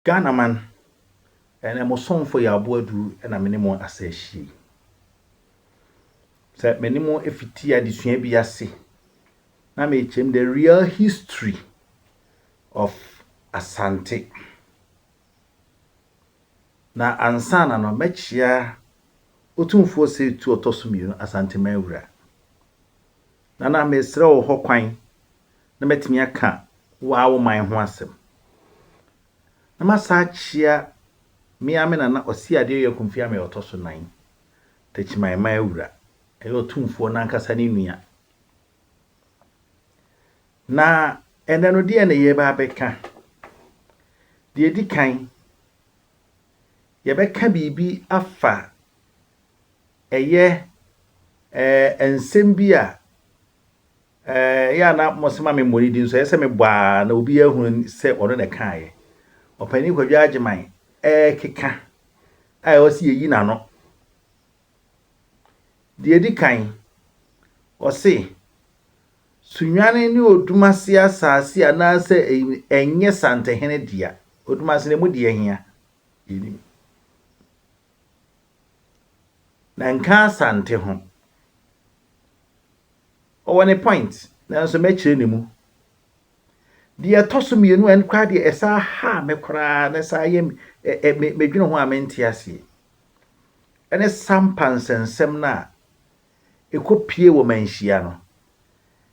Ghanaman, ɛnɛ mo somfo Yaabo Adu na me ne mo asa ahyia yi. Sɛ me ne mo fiti adesua bi ase na mekyerɛm the real history of Asante. Na ansa na no mɛkyea Otumfoɔ Seitu Ɔtɔso Mmienu Asanteman Wura. Nana mesrɛ wo hokwan na matumi aka woaa wo man ho asɛm. Na masan akyea me ara me nana Ɔseadeɛ Oyɛ Akumfiame a ɔtɔ so nan, Takyiman man awura, ɛyɛ ɔtumfoɔ no ankasa ne nua. Na ɛnnɛ no deɛn na yɛreba abɛka? Deɛ ɛdi kan, yɛbɛka biribi afa Ɛyɛ eh, nsɛm bi a eh, ɛyɛ a na mose ma memmɔ ne din so. Ɛyɛ sɛ mebɔ a na obi ahunu sɛ ɔno na ɛkaeɛ. Ɔpanin Kwadwo Agyeman ɛrekeka a ɛwɔ sɛ yɛyi n'ano. Deɛ ɛdi kan, ɔse Sunyane ne Odumase asase anaasɛ ɛnyɛ Santehene dea. Odumase na ɛmu deɛ hia? Yɛnim. Na nka Asante ho. Ɔwɔ ne point nanso mɛkyerɛ ne mu. Deɛ ɛtɔ so mmienu a ɛno koraa deɛ ɛsaa haa me koraa na ɛsaa yɛ me medwene ho a mente aseɛ ɛne sampa nsɛnsɛm no a Ekopue wɔ manhyia no.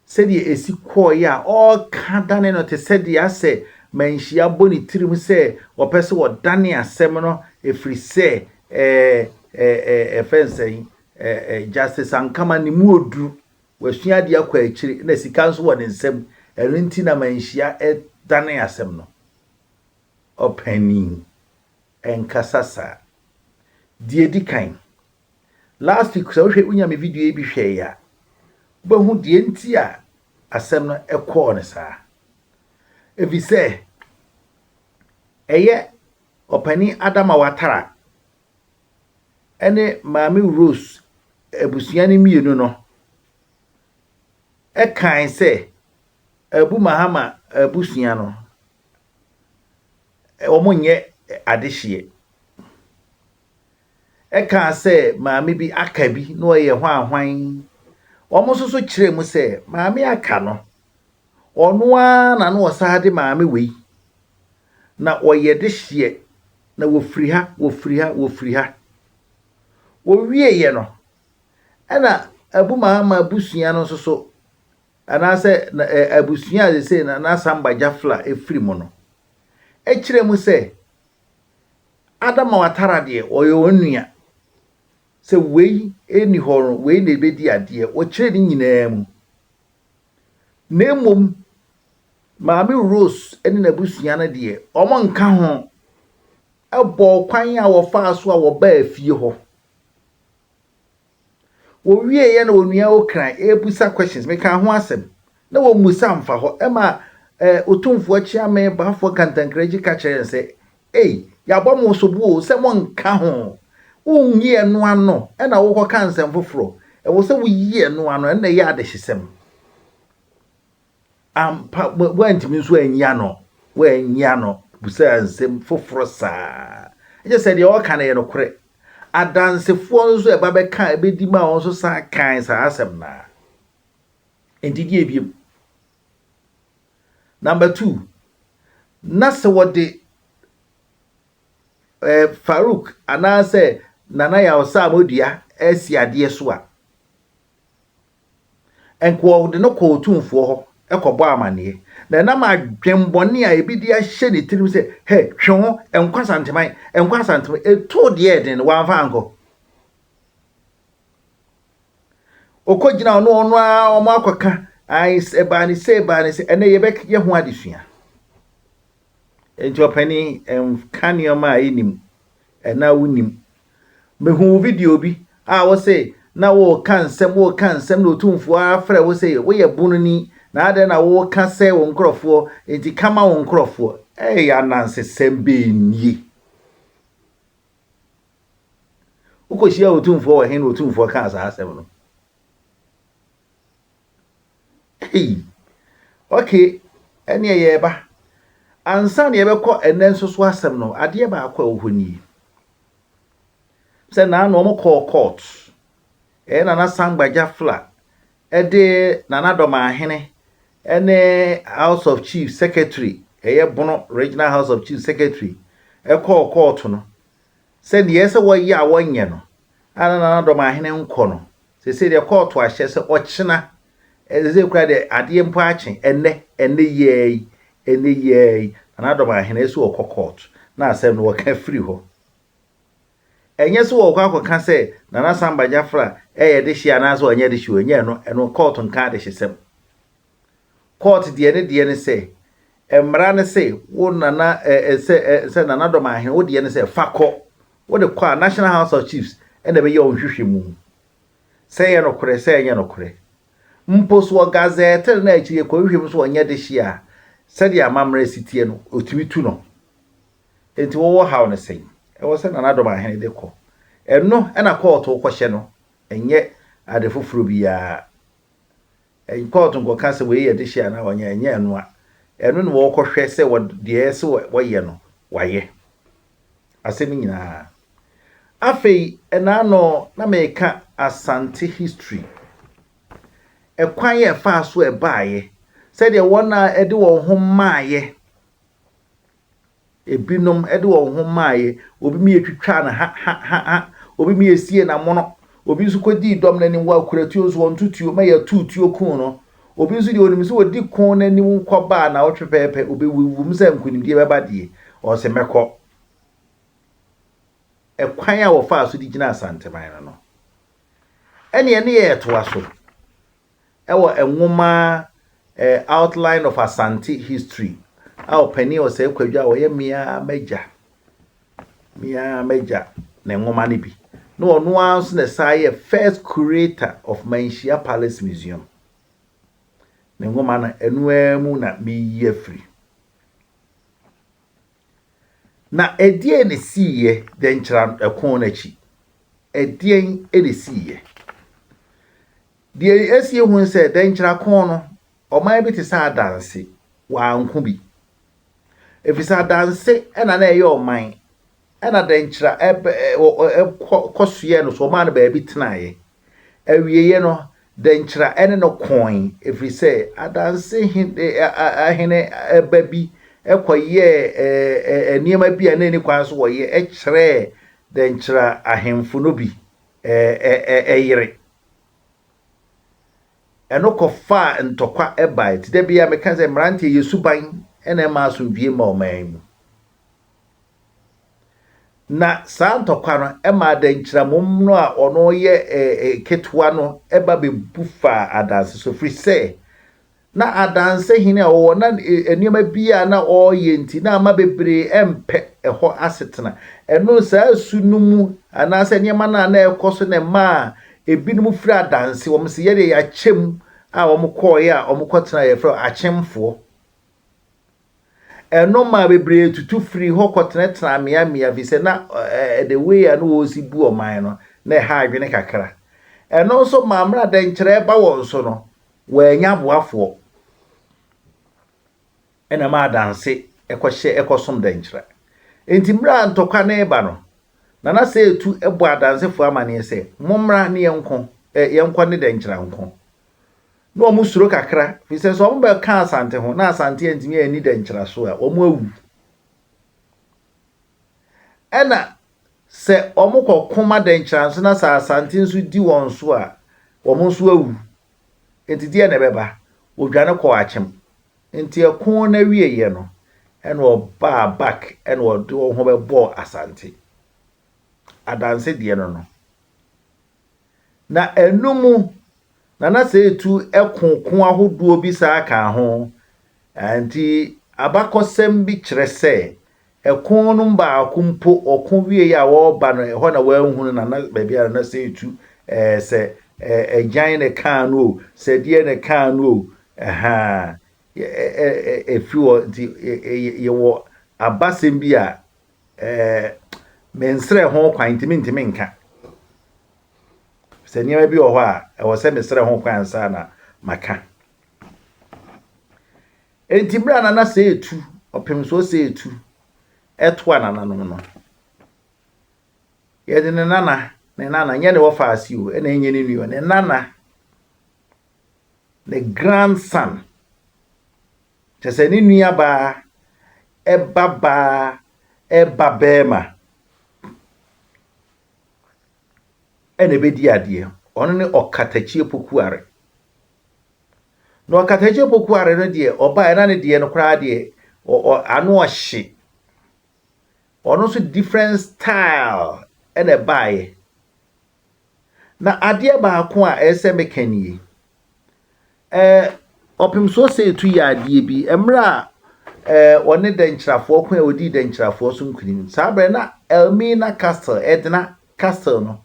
Sɛdeɛ esi kɔɔeɛ a ɔreka dane no te sɛ deɛ asɛ manhyia abɔ ne tirim sɛ ɔpɛ sɛ ɔdane asɛm no ɛfiri sɛ ɛɛ ɛɛ ɛɛ ɛfɛ nsɛn ɛɛ ɛɛ Justice Ankama ne mu ɔduru, wasua adeɛ akɔ akyire na sika nso wɔ ne nsam ɛno nti na manhyia ɛdane asɛm no. Ɔpanin. Ɛnkasa saa. Deɛ edi kan, last week sɛ wohwɛ wonya me video yi bi hwɛeɛ a, wobɛhu deɛ nti a asɛm no kɔɔ no saa. Ɛfiri sɛ ɛyɛ ɔpanin Adama Watara ɛne maame Rose abusua no mmienu no ɛkae sɛ Abu Mahama abusua no wɔnyɛ adehyeɛ. Ɛkaa sɛ maame bi aka bi na ɔyɛ hwanhwan. Wɔn nso so kyerɛɛ mu sɛ maame aka no, ɔno ara na na ɔsan de maame wei na ɔyɛ dehyeɛ na wɔfiri ha, wɔfiri ha, wɔfiri ha. Wɔwieeɛ no, ɛna abu maa ma abusua no nso so anaasɛ abusua a seesei na n'asamba Jafla firi mu no, kyerɛ mu sɛ Adama Watara deɛ ɔyɛ wɔn nua. Sɛ wei nni hɔ no, wei na ɛbɛdi adeɛ. Wɔkyerɛ ne nyinaa mu. Na mmom Maame Rose ne n'abusua no deɛ, wɔnka ho bɔɔ kwan a wɔfaa so a wɔbaa fie hɔ. Wɔwieeɛ na Onua Okran rebisa questions, mekaa ho asɛm na wɔmmisa amfa hɔ ma eh, Otumfoɔ Kyeame Baafoɔ Kantankraji ka kyerɛɛ no sɛ, Ei, yɛabɔ mo sobo o sɛ monnka ho, wonnyi ɛno ano na wokɔka nsɛm foforɔ, ɛwɔ sɛ woyi ɛno ano, ɛno na ɛyɛ adehyesɛm. Ampa, woantumi nso anyi ano, woannyi ano bisaa nsɛm foforo saa. Ɛkyerɛ sɛ deɛ ɔreka no yɛ nokorɛ. Adansefoɔ nso a ɛba bɛka ɛbɛdi maa wɔn nso san kae saa asɛm no ara. Enti deɛ ebiem. Number two, na sɛ wɔde eh, Farouk anaasɛ Nana Yaw Sam dua asi adeɛ so a, Ɛnke wɔde no kɔɔ otumfoɔ hɔ kɔbɔɔ amanneɛ, na ɛnam adwemmɔne a ebi de ahyɛ ne tirim sɛ, Hɛ, twe ho, nkɔ Asanteman, nkɔ Asanteman, ɛtoo deɛ ɛyɛ den no, wamfa ankɔ. Ɔkɔgyina ɔno ɔno ara wɔn akɔka, ae, ɛbaa ne sɛ, ɛbaa ne sɛ, ɛnɛ yɛbɛyɛ ho adesua. Enti ɔpanin, ɛnka nneɛma a ɛnnim Ɛnã wonnim. Mehuu video bi a wose na woreka nsɛm, woreka nsɛm na Otumfoɔ ara frɛ wo se woyɛ bononi na adɛn na woreka sɛe wo nkorɔfoɔ, enti ka ma wo nkorɔfoɔ. Ei anansesɛm bɛn nie? Wokɔhyiaa Otumfoɔ wɔ he na Otumfoɔ kaa saa asɛm no? Hey! Okay, ɛneɛ yɛreba. Ansa na yɛbɛkɔ ɛnɛ nso so asɛm no, adeɛ baako a ɛwɔ hɔ nie. Sɛ naano wɔn kɔɔ court, ɛyɛ Nana Sangba Jafla ɛde Nana Dɔmahene ɛne House of Chief Secretary, ɛyɛ Bono Regional House of Chief Secretary ɛkɔɔ court no. Sɛ deɛ ɛyɛ sɛ wɔyɛ a wɔnyɛ no, a na Nana Dɔmahene nkɔ no, seesei deɛ kɔɔto ahyɛ sɛ ɔkyena, seesei koraa deɛ adeɛ mpo akye, ɛnnɛ, ɛnnɛ yi ara yi, ɛnnɛ yi ara yi, Nana Dɔmahene sɛ ɔkɔ kɔɔto, na asɛm no wɔka firi hɔ. Ɛnyɛ sɛ wɔkɔ akɔka sɛ Nana Samba Gyafra yɛ dehye anaasɛ ɔnyɛ dehye o, ɛnyɛ ɛno, ɛno kɔɔto nka adehyesɛm. Court deɛ ne deɛ ne sɛ mmara ne se wo nana eh, sɛ eh, sɛ nana dɔm ahene wo deɛ ne sɛ fa kɔ wo de kɔ a National House of Chiefs ɛna ɛbɛyɛ wɔn hwehwɛ mu sɛ ɛyɛ nokorɛ sɛ ɛnyɛ nokorɛ mpo so wɔ gazɛɛtere na akyire kɔ hwehwɛ mu so wɔnyɛ de hye a sɛdeɛ amammerɛ si teɛ no ɔtumi tu no enti wɔwɔ haw no sɛn ɛwɔ sɛ nana dɔm ahene de kɔ ɛno ɛna kɔɔto kɔhyɛ no ɛnyɛ ade foforɔ biara Ɛy kɔɔto nkɔka sɛ wei yɛ dehye anaa ɔnyɛ ɛnyɛ ɛno a ɛno na wɔkɔhwɛ sɛ wɔ deɛ ɛsɛ wɔ wɔyɛ no wayɛ asɛm nyinaa afei ɛnaano na meka asante history ɛkwan yɛ ɛfaa so ɛbaaeɛ sɛdeɛ wɔn a ɛde wɔn ho maaeɛ Ebinom de wɔn ho maeɛ, obi mie twitwaa no ha ha ha ha, obi mie siee n'amono, obi nso kɔdii dɔm no anim, wɔkura tuo nso wɔnto tuo, mɛyɛ ɔtoo tuo kuu no. Obi nso deɛ ɔnim sɛ ɔdi ko no anim kɔba a naawɔtwe pɛɛpɛ, ɔbɛwuwum sɛ nkonimdie bɛba deɛ, ɔse mɛkɔ. Ɛkwan a wɔfaa so de gyinaa Santeman no no, ɛnneɛ ne yɛ yɛtoa so. wɔ nwoma A Outline of Asante History a Ɔpanin Osei Kwadwo a ɔyɛ Me Ara M'agya, Me Ara M'agya ne nwoma no bi, na ɔno ara nso na ɛsan yɛ first curator of Manhyia Palace Museum. Ne nwoma no, ɛno ara mu na mereyi afiri. Na ɛdeɛn na ɛsiiɛ dɛnkyɛra no ɛko no akyi? Ɛdeɛn na ɛsiiɛ? Deɛ ɛsi yɛhu ne sɛ dɛnkyɛra ko no, ɔman bi te sɛ Adanse, wɔanko bi. Ɛfiri sɛ Adanse na na ɛyɛ ɔman Ɛnna dɛnkyira ɛb ɛ ɔ ɔ ɛ kɔ kɔsoɛɛ no so, wɔmaa no baabi tenaeɛ. Awieeɛ no, dɛnkyira ne no kooe, ɛfiri sɛ adanse he ɛ ɛ ɛ ɛ hene ba bi kɔyɛɛ ɛ ɛ ɛ nneɛma bi a na ɛnni kwan sɛ wɔyɛ kyerɛɛ dɛnkyira ahemfo no bi ɛ ɛ ɛ ɛ yere. Ɛno kɔfaa ntɔkwa baeɛ. Nti da biara meka sɛ mmeranteɛ, yɛ suban na ɛmma asomdwie mma ɔman mu. Na saa ntɔkwa no maa dɛnkyɛmmo no a ɔno yɛ ketewa no ba bɛbu faa adanse so, firi sɛ na adanse hene a ɔwɔ na nneɛma bi a na ɔreyɛ nti na ama bebree mpɛ ɛhɔ asetena. Ɛno saa su no mu anaasɛ nneɛma no a na ɛrekɔ so na ɛmaa ebinom firi adanse, wɔn sɛ yɛdeɛ yɛakyɛm a wɔkɔɔeɛ a wɔkɔtena yɛfrɛ akyɛmfoɔ. Ɛno maa bebree tutu firii hɔ kɔtenatenaa mmeammea ɛfiri sɛ na the way a na wɔsi bu ɔman no, na ɛha adwene kakra. Ɛno nso maa mmerɛ a dɛnkyerɛ ba wɔn so no, wɔannya aboafoɔ na ɛmaa adanse kɔhyɛ ɛkɔsom dɛnkyerɛ. Enti mmerɛ a ntɔkwa no reba no, Nana Seitu bɔɔ adansefoɔ amaneɛ sɛ, Mommra ne yɛnko, yɛnkɔ ne dɛnkyerɛ nko. Na wɔn suro kakra, firi sɛ sɛ wɔn bɛ ka Asante ho, na Asante antumi anni dɛ nkyera so a, wɔn awu. Ɛna sɛ wɔn kɔ ko ma dɛ nkyera nso na sɛ Asante nso di wɔn so a, wɔn nso awu. Nti deɛ na ɛbɛba, wɔdwane kɔɔ Akyem. Nti ɛko no awieɛ no, ɛna wɔbaa back ɛna wɔde wɔn ho bɛbɔɔ Asante. Adanse deɛ no no. Na ɛno mu na na sɛ etu ɛko ko ahodoɔ bi saa ka ho. Ɛnti abakɔsɛm bi kyerɛ sɛ ɛko no mu baako mpo ɔko wieɛ a ɔreba no ɛhɔ na wanhunu na na baabi a na na sɛ etu ɛɛ sɛ ɛɛ agyan na ɛkaa no o, sɛ deɛ na ɛkaa no o ɛhaa ɛ ɛ ɛ ɛfiri hɔ nti yɛ yɛ yɛwɔ abasɛm bi a Eh, mensrɛ ho kwan nti mentumi nka. Sɛ nneɛma bi wɔ hɔ a, ɛwɔ sɛ mesrɛ ho kwan ansa na maka. Enti berɛ a nana sɛ etu, ɔpemsoɔ sɛ etu, ɛtoa nananom no, yɛde ne nana, ne nana, nyɛ ne wɔfaase o, ɛna ɛnyɛ ne nua, ne nana, ne grandson, Kyerɛ sɛ, ne nuabaa ba baa ba barima na ɛbɛdi adeɛ. Ɔno ne Ɔkatakyi Apokuare. Na Ɔkatakyi Apokuare no deɛ, ɔbaeɛ na ne deɛ no koraa deɛ, ano ɔhye. Ɔno nso different style na ɛbaeɛ. Na adeɛ baako a ɛsɛ sɛ meka nie, ɛɛ ɔpem so ɔsɛetu yɛ adeɛ bi mmerɛ a ɛɛ ɔne dɛnkyirafoɔ ko a ɔdii dɛnkyirafoɔ so nkunim saa berɛ na Elmina Castle ɛdena Castle no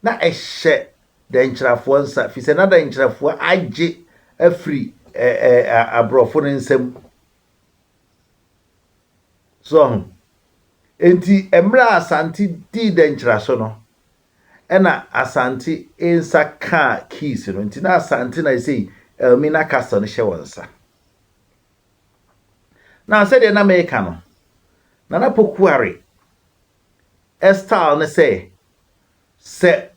na ɛhyɛ dɛnkyirafoɔ nsa firi sɛ na dɛnkyirafoɔ agye afiri ɛɛ ɛɛ aborɔfo no nsam. So wahu? Enti mmerɛ a Asante dii dɛnkyiraso no, ɛna Asante nsa kaa keys no. Nti na Asante na ɛsei Elmina Castle no hyɛ wɔn nsa. Na sɛdeɛ na meka no, Nana Pokuare style ne sɛ, sɛ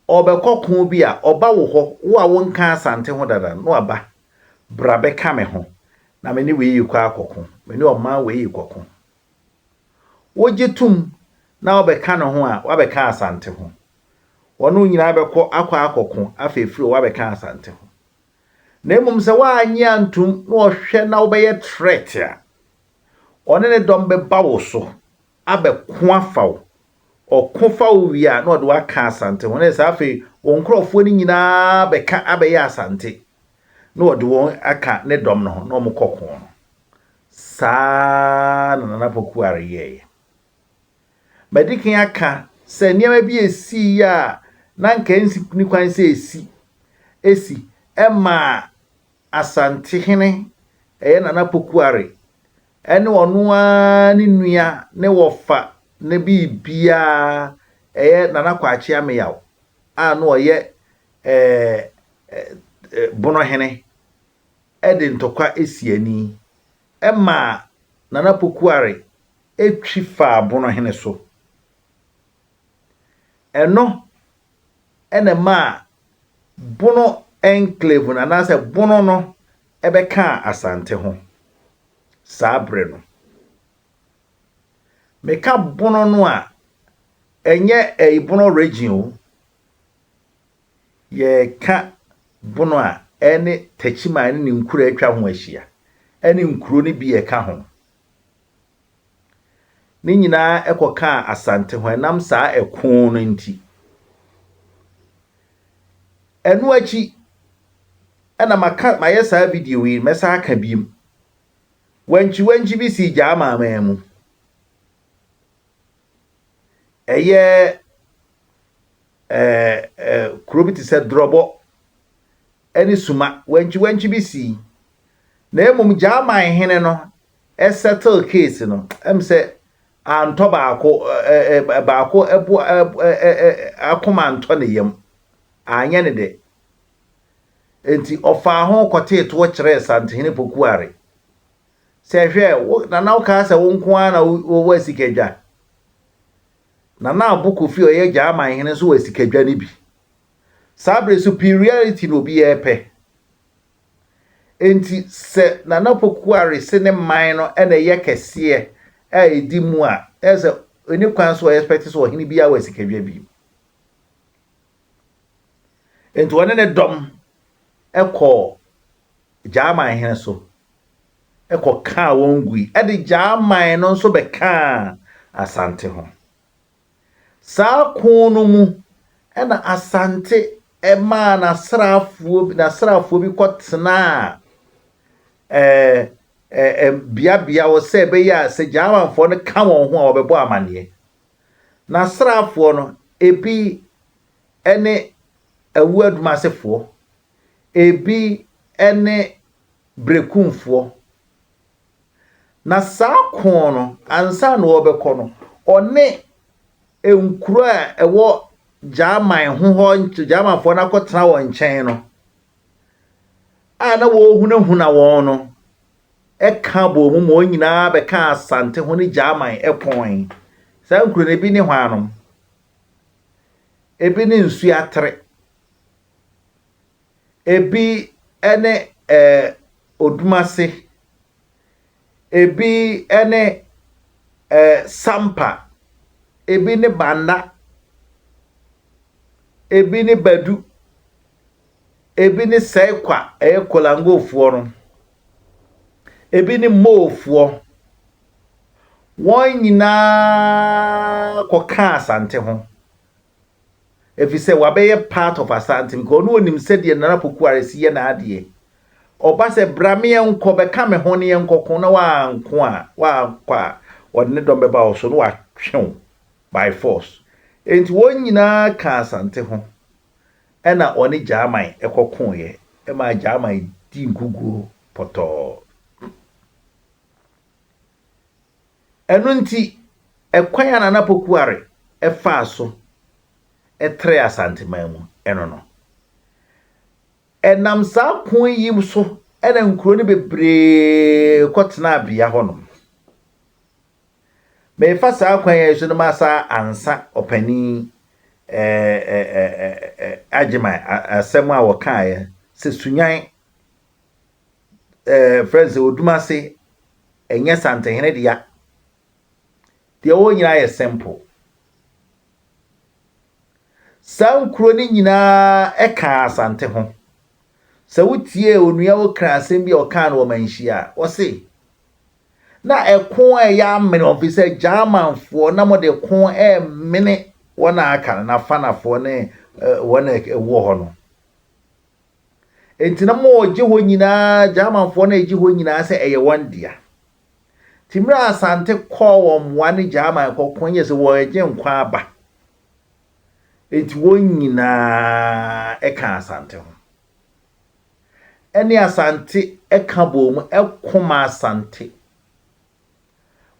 ɔrebɛkɔ ko bi a, ɔba wo hɔ, wo a wonkaa Asante ho dada no, na waba, Bra bɛka me ho, na me ne wei rekɔ akɔko, me ne ɔman wei rekɔko. Wogye tom na wobɛka ne ho a, woabɛka Asante ho. Wɔne wo nyinaa bɛkɔ akɔ akɔko, afei afiri hɔ woabɛka Asante ho. Na mmom sɛ woannye antom na ɔhwɛ na wobɛyɛ threat a, ɔne ne dɔm bɛba wo so abɛko afa wo. Ɔko fa wo wie a, na ɔde wo aka Asante ho. Na ɛsɛ sɛ afei wo nkurɔfoɔ no nyinaa bɛka abɛyɛ Asante, na ɔde wɔn aka ne dɔm no ho, na wɔkɔ ko no. Saa na Nana Pokuare yɛeɛ. Madi kan aka sɛ nneɛma bi ɛsiiɛ a na anka ɛnni kwan sɛ ɛsi, ɛsi, ɛmaa Asantehene, ɛyɛ Nana Pokuare, ɛne ɔno ara ne nua ne wɔfa ne biribiara, ɛyɛ Nana Kwakye Ameyaw a na ɔyɛ Bono hene de ntɔkwa si ani ma Nana Pokuare twi faa Bono hene so. Ɛno na ɛmaa Bono enclave no anaasɛ Bono no bɛkaa Asante ho saa bere no. Meka Bono no a, ɛnyɛ ɛyi Bono region o. Yɛka Bono a, ɛne Techiman ne ne nkuro a atwa ho ahyia, ɛne nkuro no bi a ɛka ho Ne nyinaa kɔkaa Asante ho ɛnam saa ɛko no nti. Ɛno akyi ɛna maka mayɛ saa video yi mɛsan aka biom. Wankyiwankyi bi sii Gyaa Maamaa mu. Ɛyɛ ɛɛ kuro bi te sɛ Drɔbɔ. ne suma wankyiwankyi bi sii na mmom Gyaaman hene no settle case no ɛm sɛ antɔ baako baako ɛbo akoma antɔ ne yam anyɛ ne dɛ nti ɔfaa ho kɔtee toɔ kyerɛɛ Santehene Pokuare sɛ hwɛ wo nana wokaa sɛ wo nko ara na wowɔ asikadwa Nana Abo Kofi ɔyɛ Gyaaman hene nso wɔ asikadwa no bi Saa bere superiority na obiara repɛ. Enti sɛ Nana Pokuare se ne man no na ɛyɛ kɛseɛ a ɛdi mu a, ɛyɛ sɛ ɛni kwan so ɔexpect sɛ ɔhene biara wɔ asikadwa bi. Enti ɔne ne dɔm kɔɔ Gyaman hene so kɔkaa wɔn gui de Gyaman no nso bɛkaa Asante ho. Saa ko no mu na Asante maa n'asraafoɔ bi n'asraafoɔ bi kɔtenaa ɛɛ beabea hɔ sɛ ɛbɛyɛ a sɛ Gyamanfoɔ no ka wɔn ho a wɔbɛbɔ amaneɛ. N'asraafoɔ no, ebi ne Awuo Adumasefoɔ, ebi ne Brekumfoɔ, Na saa ko no, ansa na wɔbɛkɔ no, ɔne nkuro a ɛwɔ Gyaman ho hɔ, Gyamanfoɔ no akɔtena wɔn nkyɛn no, a na wɔrehunahuna wɔn no, ɛka bɔɔ mu ma wɔn nyinaa bɛka Asante ho ne Gyaman pɔn. Saa nkuro no, ebi ne hwanom, ebi ne Nsuatere, Ebi ne eh, Odumase. Ebi ne eh, Sampa. Ebi ne Banda. Ebi ne Badu. Ebi ne Sɛkwa, ɛyɛ Kolangofoɔ no. Ebi ne Moofoɔ. Wɔn nyinaa kɔkaa Asante ho. efisɛ wabɛyɛ part of Asante because ɔno onim sɛdeɛ Nana Pokuare si yɛ n'adeɛ. Ɔba sɛ bra me yɛnkɔ, bɛka me ho na yɛnkɔko na wanko a, wankɔ a, ɔde ne dɔm bɛba wo so na watwe wo by force. Enti wɔn nyinaa kaa Asante ho ɛna ɔne Gyaman kɔkoeɛ ɛmaa Gyaman dii nkuguo pɔtɔɔ. Ɛno nti, ɛkwan a Nana Pokuare faa so trɛɛ Asanteman mu no no, ɛnam saa pon yi so na nkuro no bebree kɔtenaa bea hɔnom. Merefa saa kwan yi so no ma saa ansa ɔpanin Agyeman asɛm a wɔkaeɛ sɛ Sunyan ɛɛ fɛn sɛ odumase ɛnyɛ santehene dea deɛ wɔn nyinaa yɛ simple saa nkuro no nyinaa ɛka asante ho sɛ wotie onua okra asɛm bi a ɔkaa no wɔ manhyia a wɔse na ɛko a ɛyɛ amene wɔn fi sɛ germanfoɔ na wɔde ko ɛmene wɔn a aka no n'afanafoɔ ne wɔn a ɛwɔ hɔ no Enti na ma wɔgye hɔ nyinaa, Germanfoɔ no regye hɔ nyinaa sɛ ɛyɛ wɔn dea. Nti mmerɛ a Asante kɔɔ wɔn mmoa ne German kɔko no yɛ sɛ wɔregye nkwa aba. Enti wɔn nyinaa kaa Asante ho. Ɛne Asante ka bɔɔ mu ko maa Asante.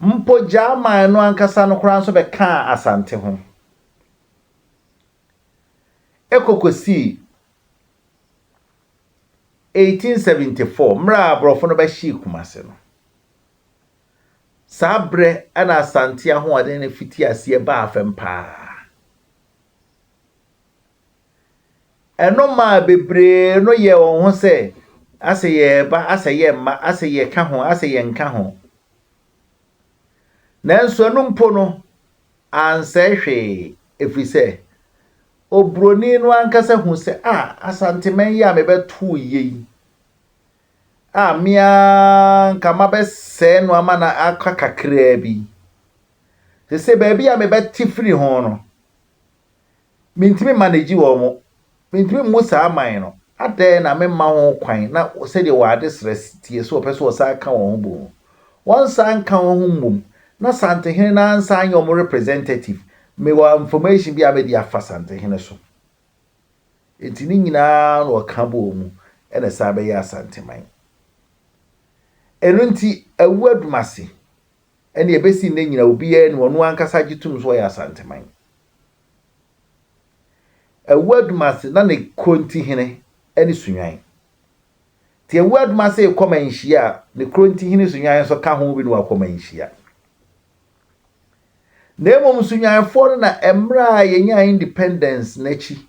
Mpo German no ankasa no koraa nso bɛkaa Asante ho. kɔ kɔsii 1874 mmerɛ a aborɔfo no bɛhyee Kumase no. Saa berɛ na Asante ahoɔden no fitii aseɛ baa fam pa ara. Ɛno maa bebree no yɛɛ wɔn ho sɛ asɛ yɛreba, asɛ yɛremma, asɛ yɛka ho, asɛ yɛnka ho. Nanso ɛno mpo no, ansɛe hwee ɛfiri sɛ oburoni no ankasa hu sɛ a Asanteman yi a mebɛtoo yɛ yi a me ara nka mabɛsɛe no ama no aka kakraa bi. Sɛ sɛ baabi a mebɛte firi ho no, Mentumi mmanegyi wɔn. Mentumi mmu saa man no. Adɛn na memma ho kwan na sɛdeɛ wɔn adesrɛ teɛ sɛ wɔpɛ sɛ wɔsan ka wɔn ho bom no, wɔnsan nka wɔn ho mmom na Santehene no ara nsan nyɛ wɔn representative? Mewɔ information bi a mede afa Santehene so. Enti ne nyinaa na wɔka bɔɔ mu na ɛsan bɛyɛɛ Asanteman. Ɛno nti, awu adum ase. Ɛnna ɛbɛsi nnɛ nyinaa obiara nim, ɔno ankasa gye tom sɛ ɔyɛ Asanteman. Awu Adomase na ne Korontihene ne Sunwan. Nti Awu Adomase rekɔ Manhyia a, ne Korontihene Sunwan nso ka ho bi na wakɔ Manhyia. Na mmom Sunwanfoɔ no na mmerɛ a yɛnyaa independence no akyi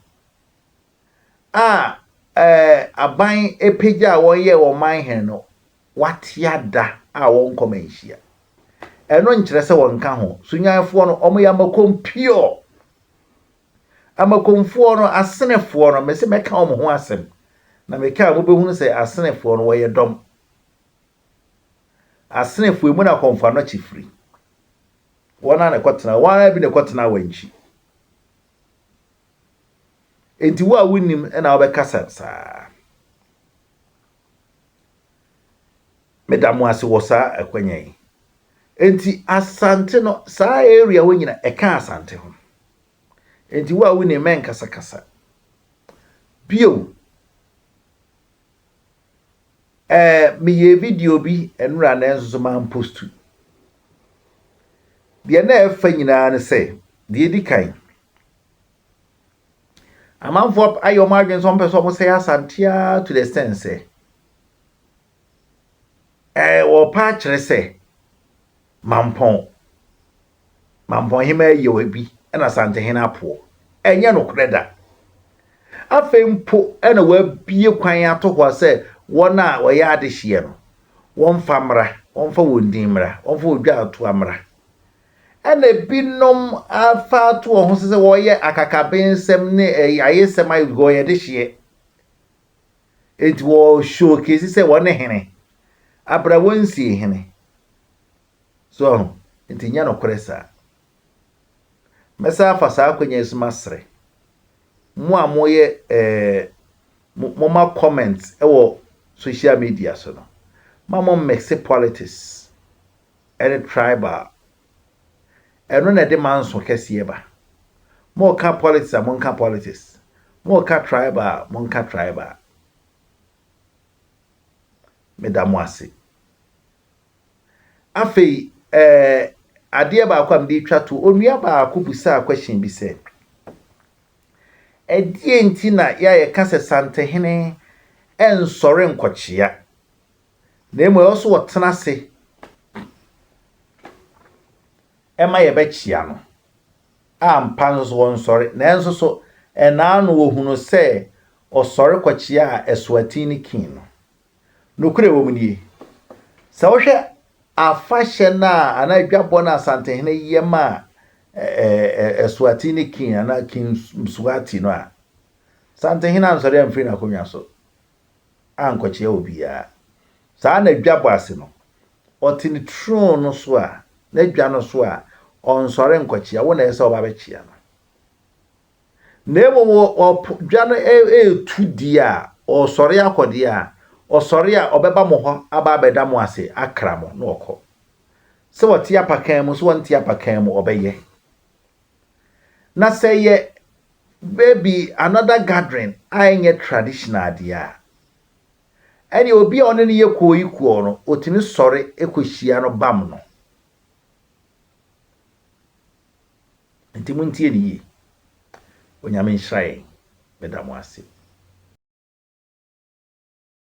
a ɛɛ aban pagyaa wɔn yɛɛ wɔn manhene no, Watea da a wɔnkɔ ma nhyia. Ɛno nkyerɛ sɛ wɔnka ho. Sunyanfoɔ no, wɔyɛ amakom pure. Amakomfoɔ no, Asenefoɔ no, mese mɛka wɔn ho asɛm. Na meka a, mobɛhunu sɛ Asenefoɔ no, wɔyɛ dɔm. Asenefoɔ, emu na kɔmfo anɔkye firi. Wɔn a na ɛkɔtena, wɔn ara bi na ɛkɔtena Awankyi. Enti wo a wonnim na wobɛkasa saa. Meda mo ase wɔ saa akwanya yi. Enti Asante no, saa area hɔ nyina ɛka Asante ho. Enti wo a wo nim mɛnkasa kasa. Bio, ɛɛ meyɛɛ video bi nnora nanso so mampostu. Deɛ na ɛfa nyinaa ne sɛ, deɛ ɛdi kan, Amanfoɔ ayɛ wɔn adwene sɛ wɔpɛ sɛ wɔsɛe Asante ara to the extent sɛ ɛɛ wɔpa akyerɛ sɛ Mampɔn Mampɔn hemaa yɛ obi ɛna Asante hene apoɔ. Ɛnyɛ nokorɛ da. Afei mpo ɛna wɔabie kwan ato hɔ sɛ wɔn a wɔyɛ adehyeɛ no wɔmfa mmra, wɔmfa wɔn din mmra, wɔmfa odwa atoa mmra. Ɛna ebinom afa ato wɔn ho so sɛ wɔyɛ akakabensɛm ne ayayesɛm ayɛ because wɔyɛ dehyeɛ. Enti wɔ showcase sɛ wɔn ne hene. Abra wɔnsie hene. So ɔho? Nti nyɛ nokorɛ saa. Mɛsan afa saa akwanya yi so masrɛ mo a moyɛ eh, moma comment wɔ social media so no, ma mo mix politics. ɛne tribal ɛno na ɛde manso kɛseɛ ba moka politics a monka politics moka tribal a monka tribal meda mo ase afei ɛɛ eh, adeɛ baako a mede twa to onua baako busaa question bi sɛ ɛdeɛ nti na yɛayɛ ka sɛ santehene ɛnsɔre nkɔkyea na mmom ɛwɔ sɛ wɔtena ase ma yɛbɛkyea no. Ampa nso so ɔnsɔre, nanso so ɛnna ano wohu no sɛ ɔsɔre kɔkyeaa asuatin no King no? Nokorɛ wɔ mu nie, sɛ wohwɛ afahyɛ no a anaa adwabɔ no a Asantehene yɛ ma asuatin no King anaa King Mswati no a, Asantehene ansɔre amfiri n'akonnwa so. ankɔkyea obiara. Saa na dwa bɔ ase no, ɔte ne throne no so a, n'adwa no so a, ɔnsɔre nkɔkyea, wo na ɛsɛ sɛ ɔba bɛkyea no. Na mmom ɔpo, dwa no ɛretu deɛ a, ɔresɔre akɔ deɛ a, ɔsɔre a, ɔbɛba mo hɔ aba abɛda mo ase, akra mo, na ɔkɔ. Sɛ ɔte apakan mu, sɛ ɔnte apakan mu, ɔbɛyɛ. Na sɛ ɛyɛ baabi another gathering a ɛnyɛ traditional deɛ a, ɛneɛ obi a ɔne no yɛ kooyikuo no, ɔtumi sɔre kɔhyia no bam no. Nti montie ne yie. Onyame nhyira yɛn. Meda mo ase.